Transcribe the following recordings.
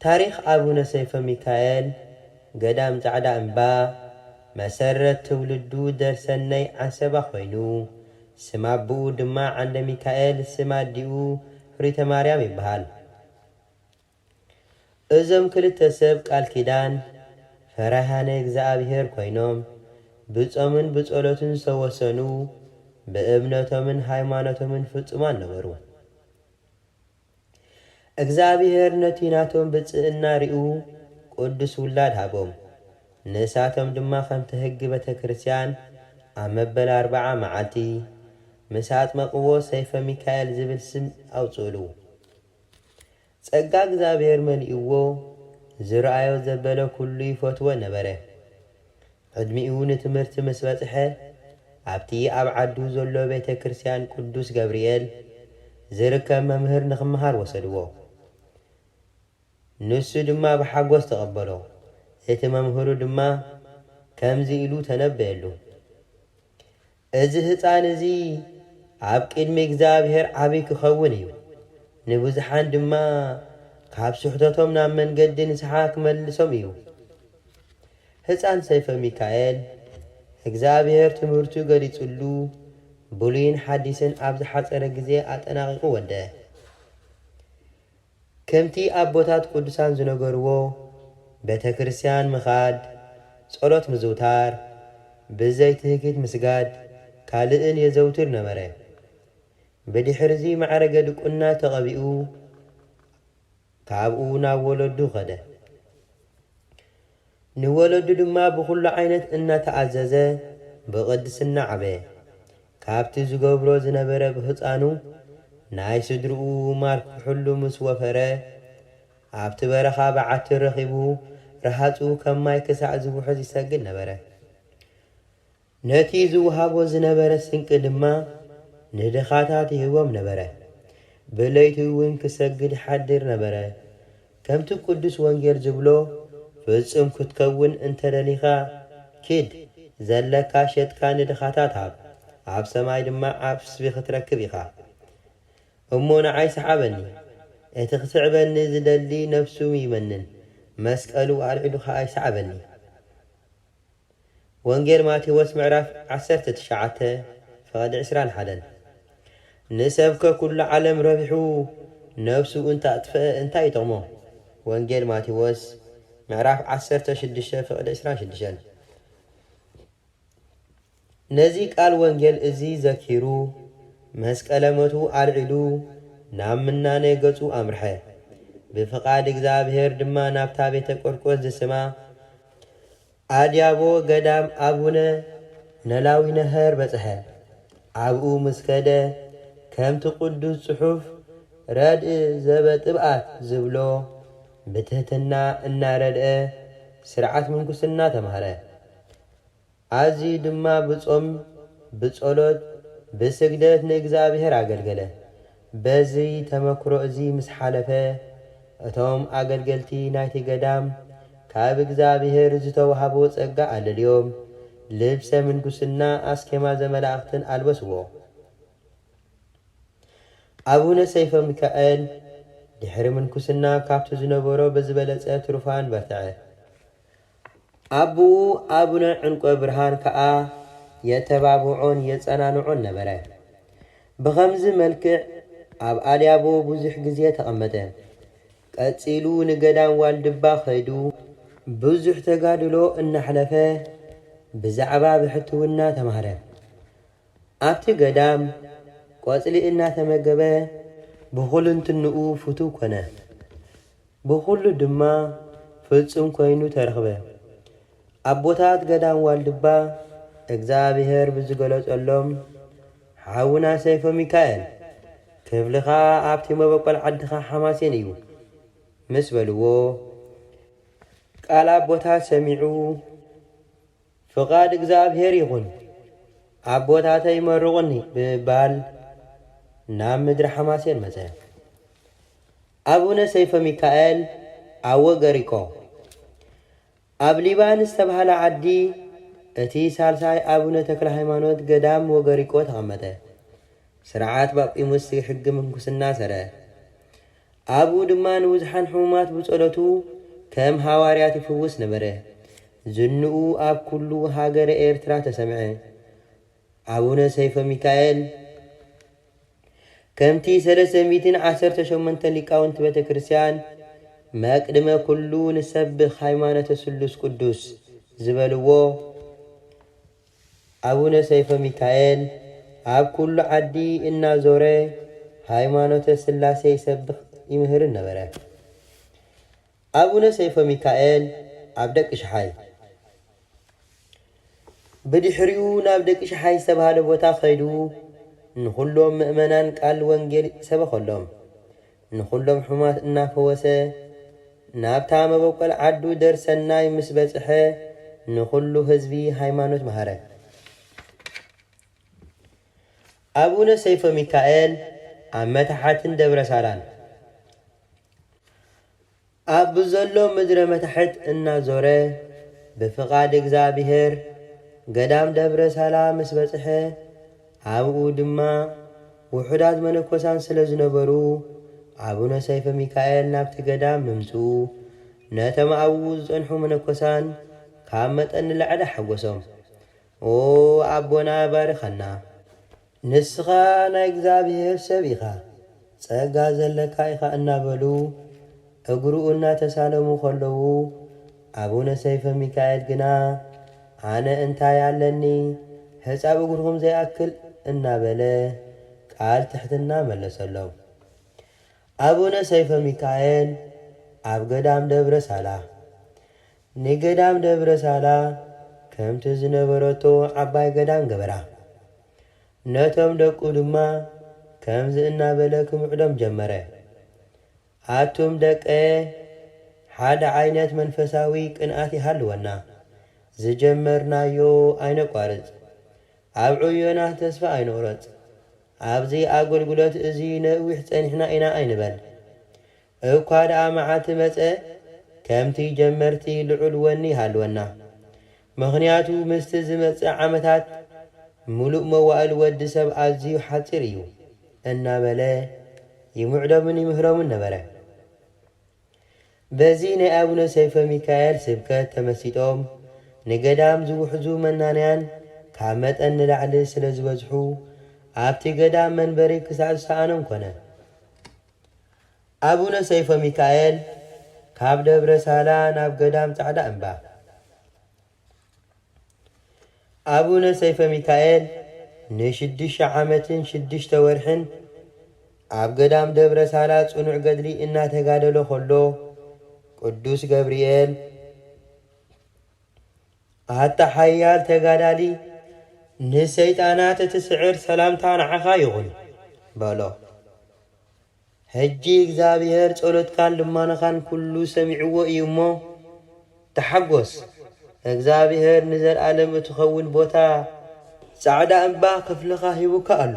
ታሪኽ ኣቡነ ሰይፈ ሚካኤል፣ ገዳም ጻዕዳ እምባ፣ መሰረት ትውልዱ ደርሰነይ ዓንሰባ ኮይኑ፣ ስም ኣቡኡ ድማ ዓንደሚካኤል፣ ስም ኣዲኡ ፍሪተማርያም ይበሃል። እዞም ክልተ ሰብ ቃል ኪዳን፣ ፈራህያነ እግዝኣብሄር ኮይኖም፣ ብጾምን ብጸሎትን ዝተወሰኑ፣ ብእምነቶምን ሃይማኖቶምን ፍጹማን ነበሩ። እግዝኣብሄር ነቲ ናቶም ብጽእና ሪኡ ቁዱስ ውላድ ሃቦም ንሳቶም ድማ ከምቲ ህጊ በተክርስቲያን ኣብ መበል ኣርባዓ ማዓልቲ ምስ ኣጥመቅዎ ሰይፈ ሚካኤል ዝብል ስም ኣውጽእሉ ጸጋ እግዝኣብሄር መሊእዎ ዝራኣዮ ዘበለ ኩሉ ይፈትዎ ነበረ ዕድሚኡ ንትምህርቲ ምስ በጽሐ፣ ኣብቲ ኣብ ዓዱ ዘሎ ቤተ ክርስቲያን ቅዱስ ገብርኤል ዚርከብ መምህር ንኽመሃር ወሰድዎ። ንሱ ድማ ብሓጐስ ተቐበሎ፣ እቲ መምህሩ ድማ ከምዚ ኢሉ ተነበየሉ፣ እዚ ህጻን እዚ ኣብ ቅድሚ እግዚኣብሔር ዓቢ ክኸውን እዩ፣ ንብዙሓን ድማ ካብ ስሕተቶም ናብ መንገዲ ንስሓ ክመልሶም እዩ። ህጻን ሰይፈሚካኤል እግዚኣብሔር ትምህርቱ ገሊጽሉ ብሉይን ሓዲስን ኣብ ዝሓጸረ ግዜ ኣጠናቒቑ ወደ። ከምቲ ኣቦታት ቅዱሳን ዝነገርዎ ቤተ ክርስቲያን ምኻድ፣ ጸሎት ምዝውታር፣ ብዘይ ትህኪት ምስጋድ ካልእን የዘውትር ነበረ። ብድሕርዚ ማዕረገ ድቁና ተቐቢኡ ካብኡ ናብ ወለዱ ከደ። ንወለዱ ድማ ብኹሉ ዓይነት እናተኣዘዘ ብቕድስና ዓበየ። ካብቲ ዝገብሮ ዝነበረ ብህጻኑ ናይ ስድርኡ ማል ክሕሉ ምስ ወፈረ፣ ኣብቲ በረኻ በዓቲ ረኺቡ ረሃጹ ከም ማይ ክሳዕ ዝውሕዝ ይሰግድ ነበረ። ነቲ ዚውሃቦ ዝነበረ ስንቂ ድማ ንድኻታት ይህቦም ነበረ። ብለይቲ እውን ኪሰግድ ይሓድር ነበረ። ከምቲ ቅዱስ ወንጌል ዚብሎ፣ ፍጹም ክትከውን እንተ ደሊኻ፣ ኪድ፣ ዘለካ ሸጥካ ንድኻታት ሃብ፣ ኣብ ሰማይ ድማ ዓስቢ ኽትረክብ ኢኻ። እሞ ንዓይ ሰሓበኒ። እቲ ኺስዕበኒ ዚደሊ ነፍሱ ይመንን፣ መስቀሉ ኣልዒሉ ኸኣ ይሰዕበኒ። ወንጌል ማቴዎስ ምዕራፍ ዓሰርተ ትሽዓተ ፍቕዲ ዕስራን ሓደን ንሰብከ ኩሉ ዓለም ረቢሑ ነፍሱ እንተኣጥፍኣ እንታይ ይጠቕሞ ወንጌል ማቴዎስ ምዕራፍ ዓሰርተ ሽዱሽተ ፍቕዲ ዕስራን ሽዱሽተን። ነዚ ቃል ወንጌል እዚ ዘኪሩ መስቀለ ሞቱ ኣልዒሉ ናብ ምናኔ ገጹ ኣምርሐ። ብፍቓድ እግዚኣብሔር ድማ ናብታ ቤተ ቆርቆስ ዝስማ ኣድያቦ ገዳም ኣቡነ ነላዊነሀር በጽሐ። ኣብኡ ምስ ከደ ከምቲ ቅዱስ ጽሑፍ ረድእ ዘበጥብኣት ዝብሎ ብትህትና እናረድኣ ሥርዓት ምንኩስና ተማህረ። ኣዝዩ ድማ ብጾም፣ ብጸሎት፣ ብስግደት ንእግዚኣብሄር ኣገልገለ። በዚ ተመክሮ እዚ ምስ ሓለፈ፣ እቶም ኣገልገልቲ ናይቲ ገዳም ካብ እግዚኣብሄር ዝተዋህቦ ጸጋ ኣለልዮም፣ ልብሰ ምንኩስና፣ ኣስኬማ ዘመላእኽትን ኣልበስዎ። ኣቡነ ሰይፈ ሚካኤል ድሕሪ ምንኩስና ካብቲ ዝነበሮ ብዝበለጸ ትሩፋን በርትዐ። ኣቡኡ ኣቡነ ዕንቈብርሃን ከኣ የተባብዖን የጸናንዖን ነበረ። ብኸምዚ መልክዕ ኣብ ኣልያቦ ብዙሕ ግዜ ተቐመጠ። ቀጺሉ ንገዳም ዋልድባ ከይዱ። ብዙሕ ተጋድሎ እናሕለፈ ብዛዕባ ብሕትውና ተማህረ። ኣብቲ ገዳም ቆጽሊ እናተመገበ። ብኹልንትንኡ ፍቱው ኮነ። ብኹሉ ድማ ፍጹም ኮይኑ ተረኽበ። ኣቦታት ገዳም ዋልድባ እግዝኣብሄር ብዝገለጸሎም ሓውና ሰይፈ ሚካኤል ክፍልኻ ኣብቲ መበቆል ዓድኻ ሓማሴን እዩ ምስ በልዎ ቃል ኣቦታት ሰሚዑ፣ ፍቓድ እግዚኣብሄር ይኹን፣ ኣቦታተይ መርቑኒ ብምባል ናብ ምድሪ ሓማሴን መጸ። ኣቡነ ሰይፈሚካኤል ኣወገሪቆ ኣብ ሊባን ዝተባህለ ዓዲ እቲ ሳልሳይ ኣቡነ ተክለሃይማኖት ገዳም ወገሪቆ ተቐመጠ። ስርዓት ጳጲሙስ ሕጊ ምንኩስና ሰረ። ኣብኡ ድማ ንብዙሓን ሕሙማት ብጸሎቱ ከም ሃዋርያት ይፍውስ ነበረ። ዝንኡ ኣብ ኩሉ ሃገረ ኤርትራ ተሰምዐ። ኣቡነ ሰይፈ ሚካኤል ከምቲ ሰለስተ ሚእትን ዓሰርተ ሸሞንተን ሊቃውንቲ ቤተ ክርስቲያን መቅድመ ኩሉ ንሰብኽ ሃይማኖተ ስሉስ ቅዱስ ዝበልዎ፣ ኣቡነ ሰይፈ ሚካኤል ኣብ ኩሉ ዓዲ እናዞረ ሃይማኖተ ሥላሴ ይሰብኽ ይምህርን ነበረ። ኣቡነ ሰይፈ ሚካኤል ኣብ ደቂ ሽሓይ፣ ብድሕሪኡ ናብ ደቂ ሽሓይ ዝተብሃለ ቦታ ከይዱ ንኹሎም ምእመናን ቃል ወንጌል ሰበኸሎም። ንኹሎም ሕሙማት እናፈወሰ ናብታ መበቆል ዓዱ ደር ሰናይ ምስ በጽሐ ንኹሉ ህዝቢ ሃይማኖት መሃረ። ኣቡነ ሰይፈ ሚካኤል ኣብ መታሕትን ደብረ ሳላን። ኣብ ብዘሎ ምድረ መታሕት እናዞረ ብፍቓድ እግዚኣብሔር ገዳም ደብረ ሳላ ምስ በጽሐ ኣብኡ ድማ ውሑዳት መነኮሳን ስለ ዝነበሩ ኣቡነ ሰይፈ ሚካኤል ናብቲ ገዳም ምምጽኡ ነቶም ኣብኡ ዝጸንሑ መነኮሳን ካብ መጠን ንላዕሊ ሓጐሶም። ኦኣቦና ባርኸና! ንስኻ ናይ እግዚኣብሄር ሰብ ኢኻ፣ ጸጋ ዘለካ ኢኻ እናበሉ እግሩ እናተሳለሙ ከለዉ፣ ኣቡነ ሰይፈ ሚካኤል ግና ኣነ እንታይ ኣለኒ ሕጻብ እግርኹም ዘይኣክል እናበለ ቃል ትሕትና መለሰሎም። ኣቡነ ሰይፈ ሚካኤል ኣብ ገዳም ደብረ ሳላ ንገዳም ደብረ ሳላ ከምቲ ዝነበረቶ ዓባይ ገዳም ገበራ። ነቶም ደቁ ድማ ከምዚ እናበለ ክምዕዶም ጀመረ፣ ኣቱም ደቀየ ሓደ ዓይነት መንፈሳዊ ቅንኣት ይሃልወና፣ ዝጀመርናዮ ኣይነቋርጽ፣ ኣብ ዕዮና ተስፋ ኣይንቑረጽ፣ ኣብዚ ኣገልግሎት እዚ ነዊሕ ጸኒሕና ኢና ኣይንበል፣ እኳ ደኣ መዓልቲ መጸ ከምቲ ጀመርቲ ልዑል ወኒ ይሃልወና። ምኽንያቱ ምስቲ ዝመጽእ ዓመታት ምሉእ መዋእል ወዲ ሰብ ኣዝዩ ሓጺር እዩ እናበለ ይምዕዶምን ይምህሮምን ነበረ። በዚ ናይ ኣቡነ ሰይፈ ሚካኤል ስብከት ተመሲጦም ንገዳም ዝውሕዙ መናንያን ካብ መጠን ንላዕሊ ስለ ዝበዝሑ ኣብቲ ገዳም መንበሪ ክሳእ ዝሰኣኖም ኮነ። ኣቡነ ሰይፈ ሚካኤል ካብ ደብረ ሳላ ናብ ገዳም ጻዕዳ እምባ። ኣቡነ ሰይፈ ሚካኤል ንሽዱሽተ ዓመትን ሽዱሽተ ወርሕን ኣብ ገዳም ደብረ ሳላ ጽኑዕ ገድሊ እናተጋደሎ ከሎ ቅዱስ ገብርኤል ኣታ ሓያል ተጋዳሊ ንሰይጣናት እትስዕር ሰላምታ ንዓኻ ይኹን በሎ። ሕጂ እግዚኣብሄር ጸሎትካን ልማኖኻን ኩሉ ሰሚዕዎ እዩ እሞ ተሓጎስ እግዚኣብሄር ንዘልኣለም እትኸውን ቦታ ጻዕዳ እምባ ክፍልኻ ሂቡካ ኣሎ።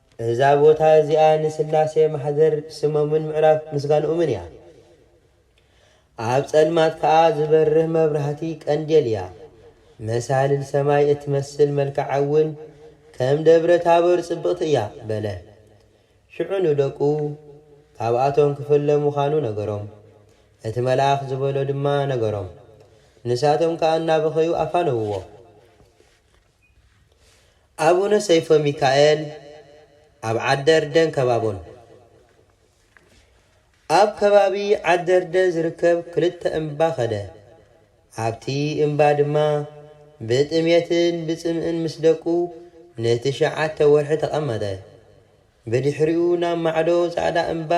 እዛ ቦታ እዚኣ ንስላሴ ማሕደር ስሞምን ምዕራፍ ምስጋንኦምን እያ። ኣብ ጸልማት ከኣ ዝበርህ መብራህቲ ቀንዴል እያ። መሳልል ሰማይ እትመስል መልክዓ እውን ከም ደብረ ታቦር ጽብቕቲ እያ በለ። ሽዑ ንደቁ፣ ካብኣቶም ክፍለ ምዃኑ ነገሮም። እቲ መልኣኽ ዝበሎ ድማ ነገሮም። ንሳቶም ከኣ እናበኸዩ ኣፋነውዎ። ኣቡነ ሰይፈሚካኤል ኣብ ዓደርደን ከባቦን። ኣብ ከባቢ ዓደርደ ዝርከብ ክልተ እምባ ከደ። ኣብቲ እምባ ድማ ብጥሜትን ብጽምእን ምስ ደቁ ንትሽዓተ ወርሒ ተቐመጠ። ብድሕሪኡ ናብ ማዕዶ ጻዕዳ እምባ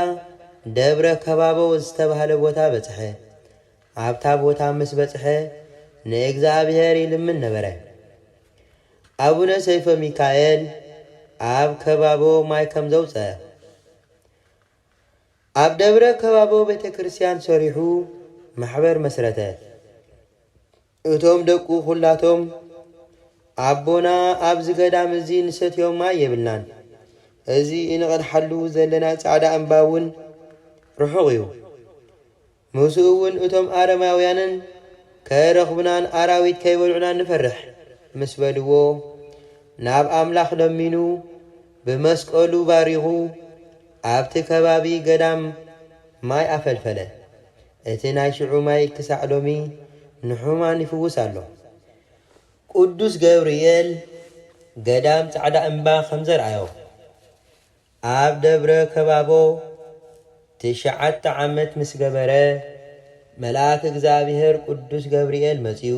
ደብረ ከባቦ ዝተባህለ ቦታ በጽሐ። ኣብታ ቦታ ምስ በጽሐ ንእግዚኣብሔር ይልምን ነበረ። ኣቡነ ሰይፈ ሚካኤል ኣብ ከባቦ ማይ ከም ዘውጸእ፣ ኣብ ደብረ ከባቦ ቤተክርስትያን ሰሪሑ ማሕበር መስረተ። እቶም ደቁ ዅላቶም፣ ኣቦና፣ ኣብዚ ገዳም እዚ እንሰትዮ ማይ የብልናን፣ እዚ እንቐድሓሉ ዘለና ጻዕዳ እምባ እውን ርሑቕ እዩ፣ ምስኡ እውን እቶም ኣረማውያንን ከይረኽቡናን ኣራዊት ከይበልዑናን ንፈርሕ ምስ በልዎ፣ ናብ ኣምላኽ ለሚኑ ብመስቀሉ ባሪኹ ኣብቲ ከባቢ ገዳም ማይ ኣፈልፈለ። እቲ ናይ ሽዑ ማይ ክሳዕ ሎሚ ንሕሙማን ይፍውስ ኣሎ። ቅዱስ ገብርኤል ገዳም ጻዕዳ እምባ ከም ዘርኣዮ፣ ኣብ ደብረ ከባቦ ትሽዓተ ዓመት ምስ ገበረ፣ መልኣክ እግዚኣብሔር ቅዱስ ገብርኤል መጺኡ፣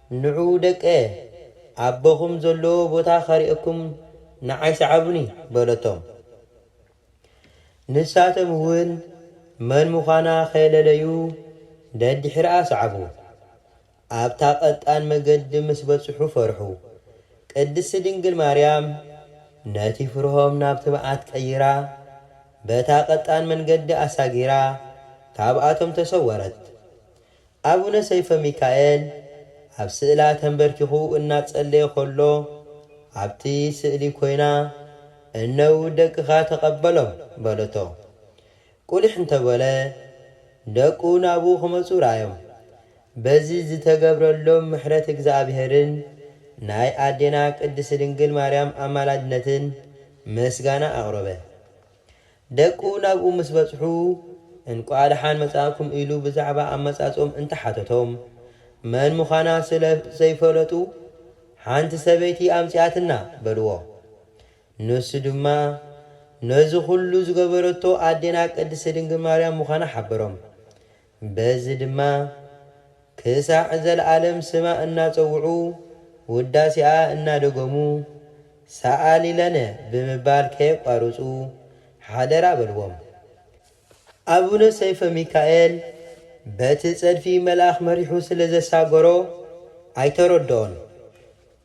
ንዑ ደቀ፣ ኣቦኹም ዘለዎ ቦታ ኸርእየኩም ንዓይ ስዓቡኒ በለቶም። ንሳቶምውን መን ምዃና ኸይለለዩ ደድሕርኣ ሰዓቡ። ኣብታ ቐጣን መገዲ ምስ በጽሑ ፈርሑ። ቅድስቲ ድንግል ማርያም ነቲ ፍርሆም ናብ ትብዓት ቀይራ በታ ቐጣን መንገዲ ኣሳጊራ ካብኣቶም ተሰወረት። ኣቡነ ሰይፈ ሚካኤል ኣብ ስእላ ተንበርኪኹ እናጸለየ ከሎ ኣብቲ ስእሊ ኮይና እነውድ ደቅኻ ተቐበሎም በለቶ። ቁሊሕ እንተበለ ደቁ ናብኡ ክመጹ ረኣዮም። በዚ ዝተገብረሎም ምሕረት እግዝኣብሄርን ናይ ኣዴና ቅድስት ድንግል ማርያም ኣማላድነትን ምስጋና ኣቕረበ። ደቁ ናብኡ ምስ በጽሑ እንቋዕ ደሓን መጻእኩም ኢሉ ብዛዕባ ኣመጻጽኦም እንተ ሓተቶም፣ መን ምዃና ስለ ዘይፈለጡ ሓንቲ ሰበይቲ ኣምጺኣትና በልዎ። ንሱ ድማ ነዚ ኹሉ ዝገበረቶ ኣዴና ቅድስቲ ድንግል ማርያም ምዃና ሓበሮም። በዚ ድማ ክሳዕ ዘለዓለም ስማ እናጸውዑ ውዳሴኣ እናደገሙ ሰኣሊ ለነ ብምባል ከየቋርጹ ሓደራ በልዎም። ኣቡነ ሰይፈ ሚካኤል በቲ ጸድፊ መልኣኽ መሪሑ ስለ ዘሳገሮ ኣይተረድኦን።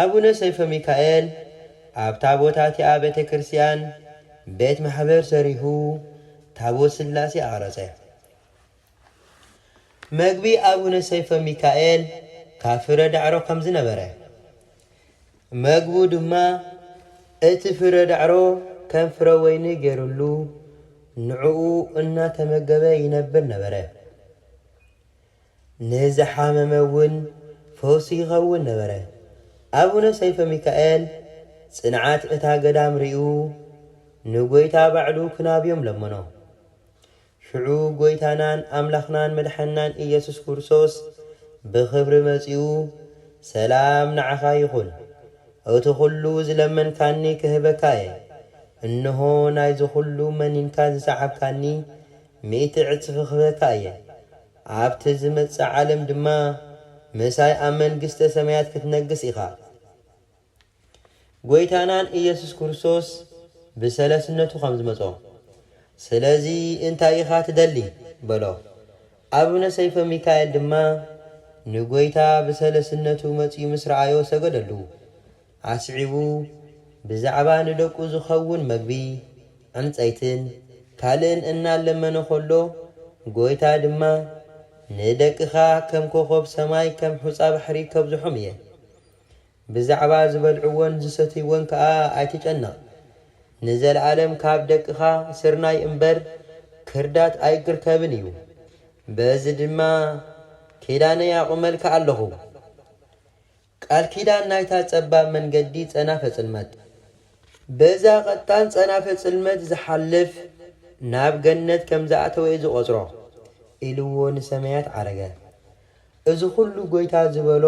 ኣቡነ ሰይፈ ሚካኤል ኣብታ ቦታ እቲኣ ቤተ ክርስቲያን ቤት ማሕበር ሰሪሁ ታቦት ስላሴ ኣቕረጸ። መግቢ ኣቡነ ሰይፈ ሚካኤል ካብ ፍረ ዳዕሮ ከም ዝነበረ፣ መግቡ ድማ እቲ ፍረ ዳዕሮ ከም ፍረ ወይኒ ገይሩሉ ንዕኡ እናተመገበ ይነብር ነበረ። ንዝሓመመ እውን ፈውሲ ይኸውን ነበረ። ኣቡነ ሰይፈ ሚካኤል ጽንዓት እታ ገዳም ርእዩ ንጐይታ ባዕሉ ክናብዮም ለመኖ። ሽዑ ጐይታናን ኣምላኽናን መድሓኒናን ኢየሱስ ክርስቶስ ብኽብሪ መጺኡ ሰላም ንዓኻ ይኹን፣ እቲ ኹሉ ዝለመንካኒ ክህበካ እየ፣ እንሆ ናይዚ ኹሉ መኒንካ ዝሰዓብካኒ ሚእቲ ዕጽፊ ክህበካ እየ፣ ኣብቲ ዚመጽእ ዓለም ድማ ምሳይ ኣብ መንግስተ ሰማያት ክትነግስ ኢኻ። ጐይታናን ኢየሱስ ክርስቶስ ብሰለስነቱ ከም ዝመጾ። ስለዚ እንታይ ኢኻ ትደሊ? በሎ። ኣቡነ ሰይፈ ሚካኤል ድማ ንጐይታ ብሰለስነቱ መጺኡ ምስ ረኣዮ ሰገደሉ። ኣስዒቡ፣ ብዛዕባ ንደቁ ዝኸውን መግቢ፣ ዕንጸይትን ካልእን እናለመነ ኸሎ፣ ጐይታ ድማ፣ ንደቅኻ ከም ኰኾብ ሰማይ ከም ሑጻ ባሕሪ ከብዝሖም እየ። ብዛዕባ ዝበልዕዎን ዝሰትይዎን ከኣ ኣይትጨነቕ። ንዘለኣለም ካብ ደቅኻ ስርናይ እምበር ክርዳት ኣይክርከብን እዩ። በዚ ድማ ኪዳነይ ኣቝመልካ ኣለኹ። ቃል ኪዳን ናይታ ጸባብ መንገዲ ጸናፈ ጽልመት። በዛ ቀጣን ጸናፈ ጽልመት ዝሓልፍ ናብ ገነት ከም ዝኣተወ'የ ዝቖጽሮ። ኢሉዎ ንሰማያት ዓረገ። እዚ ኹሉ ጎይታ ዝበሎ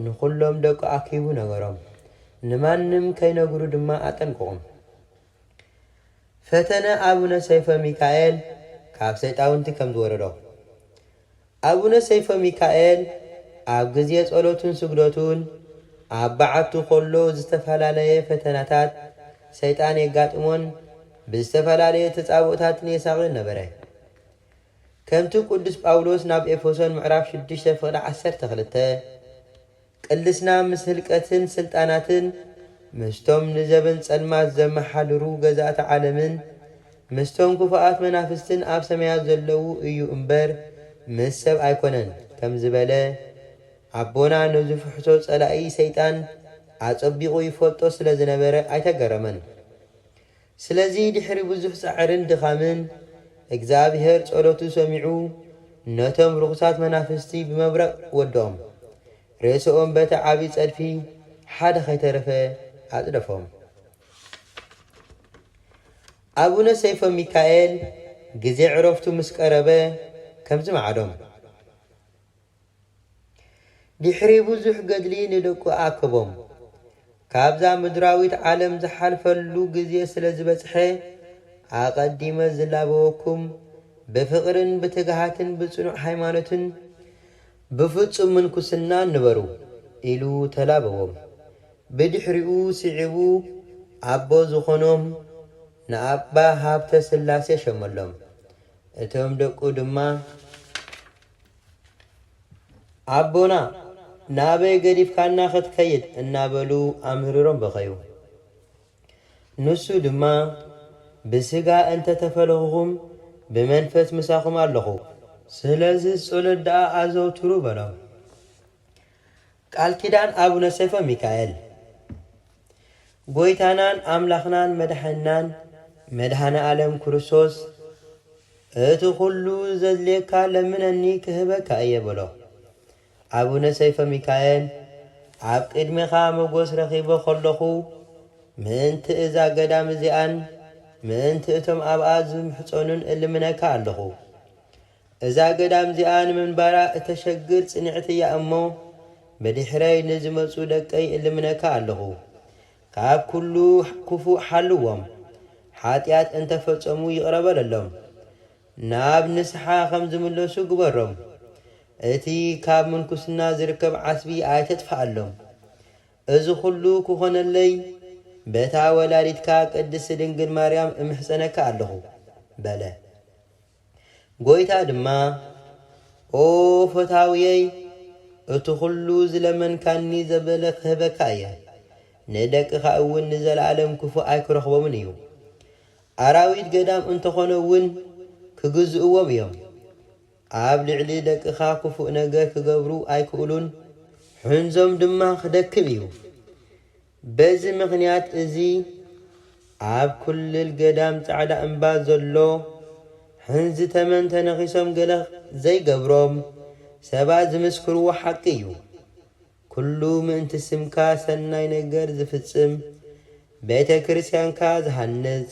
ንኹሎም ደቁ ኣኪቡ ነገሮም። ንማንም ከይነግሩ ድማ ኣጠንቅቑም። ፈተነ ኣቡነ ሰይፈ ሚካኤል ካብ ሰይጣውንቲ ከም ዝወረዶ። ኣቡነ ሰይፈ ሚካኤል ኣብ ግዜ ጸሎቱን ስግደቱን ኣብ በዓቱ ከሎ ዝተፋላለየ ፈተናታት ሰይጣን የጋጥሞን ብዝተፈላለየ ተጻብኦታትን የሳቕዮን ነበረ። ከምቲ ቅዱስ ጳውሎስ ናብ ኤፈሶን ምዕራፍ ሽዱሽተ ፍቕዲ ዓሰርተ ክልተ ቅልስና ምስ ህልቀትን ስልጣናትን፣ ምስቶም ንዘበን ጸልማት ዘመሓድሩ ገዛእቲ ዓለምን፣ ምስቶም ክፉኣት መናፍስትን ኣብ ሰማያት ዘለዉ እዩ እምበር ምስ ሰብ ኣይኮነን ከም ዝበለ፣ ኣቦና ንዝፍሕሶ ጸላኢ ሰይጣን ኣጸቢቑ ይፈልጦ ስለ ዝነበረ ኣይተገረመን። ስለዚ ድሕሪ ብዙሕ ጻዕርን ድኻምን እግዚኣብሄር ጸሎቱ ሰሚዑ ነቶም ርኹሳት መናፍስቲ ብመብረቕ ወዶም። ሬስኦም በቲ ዓቢ ጸድፊ ሓደ ከይተረፈ ኣጽደፎም። ኣቡነ ሰይፈ ሚካኤል ግዜ ዕረፍቱ ምስ ቀረበ ከምዚ ማዕዶም። ድሕሪ ብዙሕ ገድሊ ንደቁ ኣከቦም። ካብዛ ምድራዊት ዓለም ዝሓልፈሉ ግዜ ስለ ዝበጽሐ፣ ኣቐዲመ ዝላበወኩም፣ ብፍቕርን ብትግሃትን ብጽኑዕ ሃይማኖትን፣ ብፍጹም ምንኩስናን ንበሩ፣ ኢሉ ተላበዎም። ብድሕሪኡ ስዒቡ ኣቦ ዝኾኖም ንኣባ ሃብተስላሴ ሸመሎም። እቶም ደቁ ድማ። ኣቦና ናበይ ገዲፍካና ክትከይድ እናበሉ ኣምህሪሮም በኸዩ። ንሱ ድማ ብስጋ እንተ ተፈለኹኹም ብመንፈስ ምሳኹም ኣለኹ። ስለዚ ጸሎት ደኣ ኣዘውትሩ በሎም። ቃል ኪዳን ኣቡነ ሰይፈ ሚካኤል ጎይታናን ኣምላኽናን መድሓኒናን መድሃኔ ኣለም ክርስቶስ እቲ ኩሉ ዘድልየካ ለምነኒ ክህበካ እየ በሎ ኣቡነ ሰይፈ ሚካኤል ኣብ ቅድሜኻ መጎስ ረኺበ ከለኹ ምእንቲ እዛ ገዳም እዚኣን ምእንቲ እቶም ኣብኣ ዝምሕጸኑን እልምነካ ኣለኹ እዛ ገዳም'ዚኣ ንምንባራ እተሸግር ጽንዕቲ እያ እሞ፣ ብድሕረይ ንዝመጹ ደቀይ እልምነካ ኣለኹ፣ ካብ ኵሉ ክፉእ ሓልዎም፣ ሓጢኣት እንተ ፈጸሙ ይቕረ በለሎም፣ ናብ ንስሓ ኸም ዝምለሱ ግበሮም፣ እቲ ኻብ ምንኵስና ዚርከብ ዓስቢ ኣይተጥፍኣሎም። እዚ ዅሉ ኪዀነለይ፣ በታ ወላዲትካ ቅድስቲ ድንግል ማርያም እምሕጸነካ ኣለኹ፣ በለ። ጐይታ ድማ፣ ኦ ፈታውየይ፣ እቲ ዅሉ ዝለመንካኒ ዘበለ ኽህበካ እየ፣ ንደቅኻ እውን ንዘለኣለም ክፉእ ኣይክረኽቦምን እዩ። ኣራዊት ገዳም እንተ ዀነ እውን ኪግዝእዎም እዮም። ኣብ ልዕሊ ደቅኻ ክፉእ ነገር ኪገብሩ ኣይክእሉን፣ ሕንዞም ድማ ኺደክም እዩ። በዚ ምኽንያት እዚ ኣብ ኩልል ገዳም ጻዕዳ እምባ ዘሎ ሕንዚ ተመን ተነኺሶም ገለ ዘይገብሮም ሰባት ዝምስክርዎ ሓቂ እዩ። ኩሉ ምእንቲ ስምካ ሰናይ ነገር ዝፍጽም፣ ቤተ ክርስቲያንካ ዝሃንጽ፣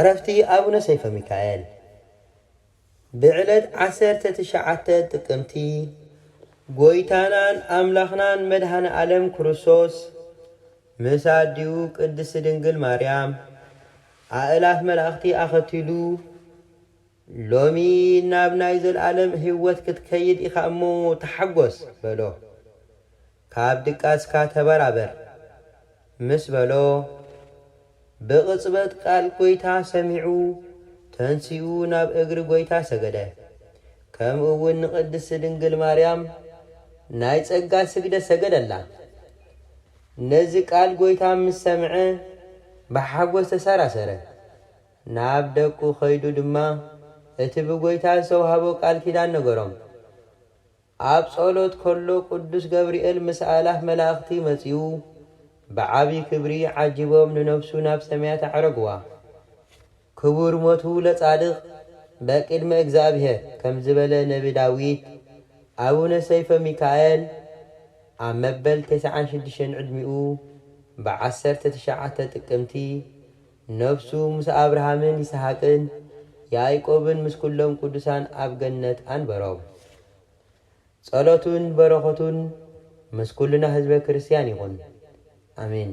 ዕረፍቲ ኣቡነ ሰይፈ ሚካኤል ብዕለት ዓሰርተ ትሽዓተ ጥቅምቲ ጎይታናን ኣምላኽናን መድኃኔ ዓለም ክርስቶስ ምስ ኣዲኡ ቅድስት ድንግል ማርያም ኣእላፍ መላእኽቲ ኣኸቲሉ ሎሚ ናብ ናይ ዘልኣለም ህይወት ክትከይድ ኢኻ እሞ ተሓጐስ በሎ። ካብ ድቃስካ ተበራበር ምስ በሎ፣ ብቕጽበት ቃል ጐይታ ሰሚዑ ተንሲኡ ናብ እግሪ ጐይታ ሰገደ። ከምኡውን ንቅድስት ድንግል ማርያም ናይ ጸጋ ስግደት ሰገደላ። ነዚ ቃል ጐይታ ምስ ሰምዐ ብሓጐስ ተሰራሰረ። ናብ ደቁ ከይዱ ድማ እቲ ብጐይታ ዝተዋህቦ ቃል ኪዳን ነገሮም። ኣብ ጸሎት ከሎ ቅዱስ ገብርኤል ምስ ኣእላፍ መላእኽቲ መጺኡ ብዓቢ ክብሪ ዓጂቦም ንነፍሱ ናብ ሰማያት ኣዕረግዋ። ክቡር ሞቱ ለጻድቅ በቅድመ እግዚኣብሔር ከም ዝበለ ነቢ ዳዊት፣ ኣቡነ ሰይፈ ሚካኤል ኣብ መበል ተስዓን ሽዱሽተን ዕድሚኡ ብዓሰርተ ትሽዓተ ጥቅምቲ፣ ነፍሱ ምስ ኣብርሃምን ይስሃቅን ያእቆብን ምስ ኩሎም ቅዱሳን ኣብ ገነት ኣንበሮም። ጸሎቱን በረኸቱን ምስ ኩልና ህዝበ ክርስትያን ይኹን። ኣሜን።